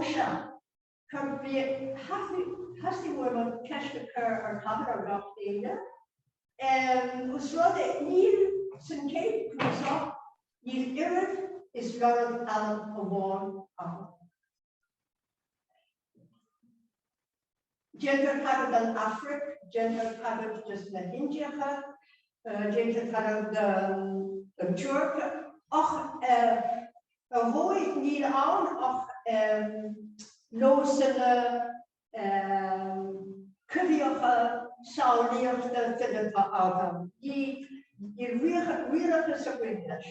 Ó sea, cad faoi thosaigh muid an cheist a chur ar chathair ar gach éinne? Os rud é níl sa chéad cnuasach níl oiread is logainm amháin ann. Déantar tagairt don Afraic, déantar tagairt dos na hIndiacha, déantar tagairt don Tuirc ach ar ndóigh níl ann ach nósanna coimhthíocha samhlaíochta fileata agam. Níl réalachas ar bith leis.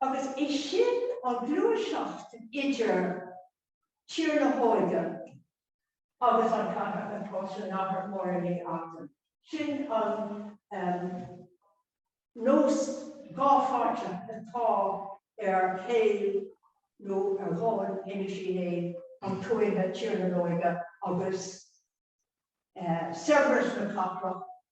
agus é sin an ghluaiseacht idir Tír na nÓige agus an chathair atá sa chathair mhór i bhfad. Sin an nós dhá-pháirteach atá ar shaol nó ar dhomhan Inis Uí Néill, an tuath, Tír na n-Óige agus saibhreas na cathrach.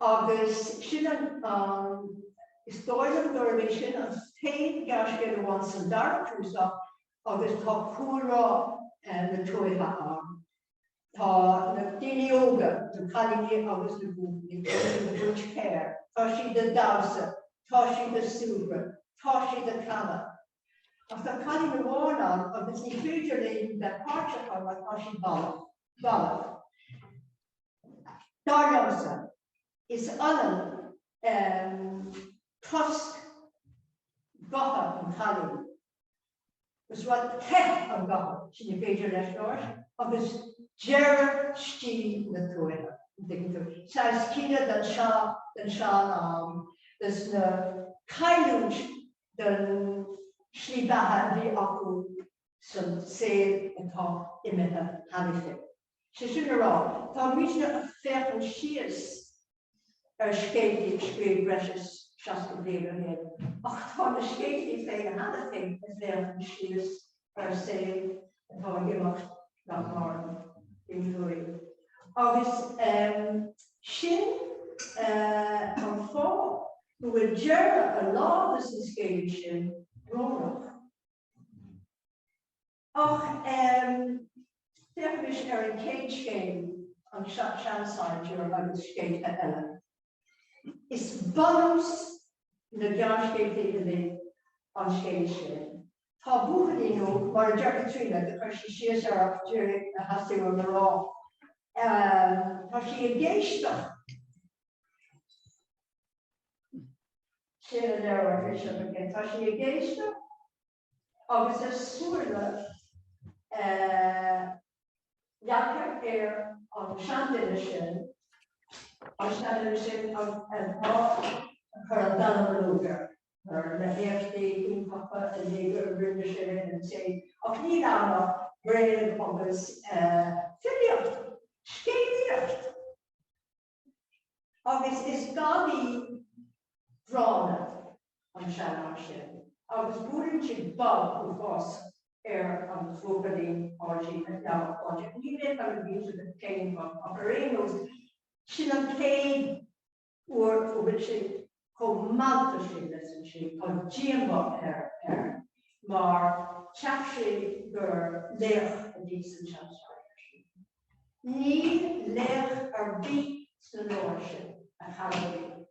Agus sin an an, is dóigh liom gurb é sin an t-aon ghearrscéal amháin sa dara cnuasach agus tá cúlrá na tuaithe ann. Tá na daoine óga, na cailíní agus na buachaillí, tá siad ag tabhairt féir, tá siad ag damhsa, tá siad ag súgradh, tá siad ag canadh. Ach tá cailín amháin ann agus ní féidir léi bheith páirteach mar tá sí balbh. bhalbh. Dar liomsa, is ionann tost gutha an chailín agus a rá, teip an ghutha, sin nach féidir leis labhairt, agus deireadh shaol na tuaithe, an dtuigeann tú, saghas caoineadh den sean-am, is na cailliúint den slí beatha a bhí acu. san saol atá imithe tharainn. Sé sin le rá, tá muidne ag féachaint siar ar scéaltaí a scríobhadh breis is seasca bliain ó shin, ach tá na scéaltaí féin cheana féin ag féachaint siar ar shaol atá ag imeacht nach maireann inniu. Agus sin an fáth go bhfuil deireadh a lán de na scéalta sin brónach. Ach féachaimis ar an chéad scéal, an seansaighdiúir agus scéalta eile. Is bunús na gearrscéalta uilig an scéal sin. Tá buachaillín óg, mar a deir Caitríona do chuir sí síos ar ach d'éirigh a sheasamh i ngrá, tá sí ag éisteacht, Sin a deir an Bhishop again. Tá sí ag éisteacht agus a súile leagtha ar an seanduine sin, an seanduine sin atá ag cur an dallamullóg air ar na héachtaí iontacha a dhéag a rinne sé in an té. Ach níl ann ach bréag agus filíocht, scéalaíocht. agus is gadaí gránna an seanfhear sin agus buaileann sé bob uafásach ar an bhuachaillín Páidí, a dealbh Páidí, ní bheidh an bhíse de chéim ach ar aon nós sin an chéad uair a bhfuil sé Chomh maith le sin, measann sé, tá díomá air mar cheap sé gur laoch a bhí sa tseansaighdiúir sin. Níl laoch ar bith sna leabhair sin, a chara liom.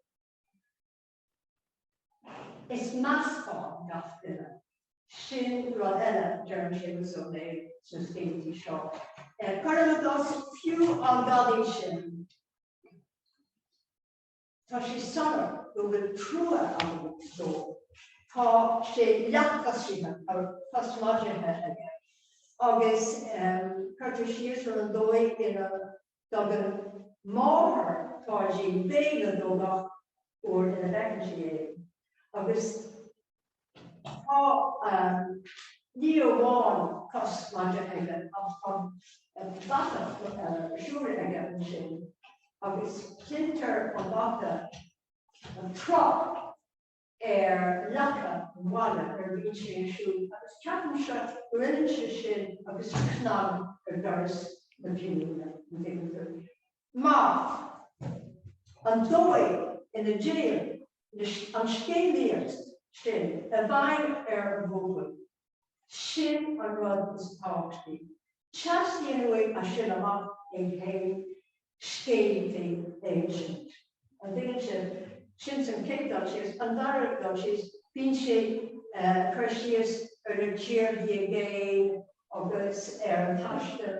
Is meascán gach duine. Sin rud eile a deireann Séamus Ó Néill sna scéilíní seo. Ceart go leor agus fiú an gadaí sin. Tá sé soiléir go bhfuil trua agam dó. Tá sé leathchoisrithe agus cos maide aige agus cuirtear síos ar an dóigh ina dtugann máthair Pháidín béile dó gach uair ina bhfeiceann sí é agus Tá ní amháin cos maide aige ach tá bata siúil aige ansin agus cluintear an bata an trup ar leaca an bhaile nuair a bhíonn sé ag siúl agus ceapann sé gurb ionann é sin agus cnag ar doras na cinniúna an déantar. Maith. An dóigh ina dtéann an scéalaíocht sin i bhfeidhm ar an bhuachaill, sin an rud is tábhachtaí. Teastaíonn uaidh as sin amach é féin scéal féin a insint. An dtuigeann sibh? Sin an chéad dul síos. An dara dul síos, bíonn sé ag cur síos ar na tíorthaí i gcéin agus ar an taisteal.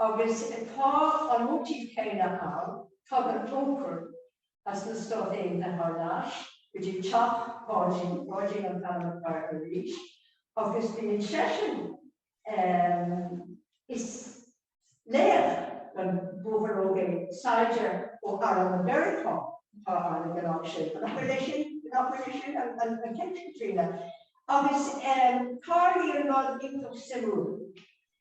Agus tá an móitíf céanna ann, tagann col ceathar as na Stáit Aontaithe thar n-ais go dtí teach Pháidí, Páidí an t-ainmfhocal arís, agus bíonn seisean is laoch don bhuachaill óg é, saighdiúir ó arm Mheiriceá atá ann ag an am sin, an bhfuil é sin, nach bhfuil é sin an ceist Caitríona? Agus tarlaíonn rud iontach suimiúil.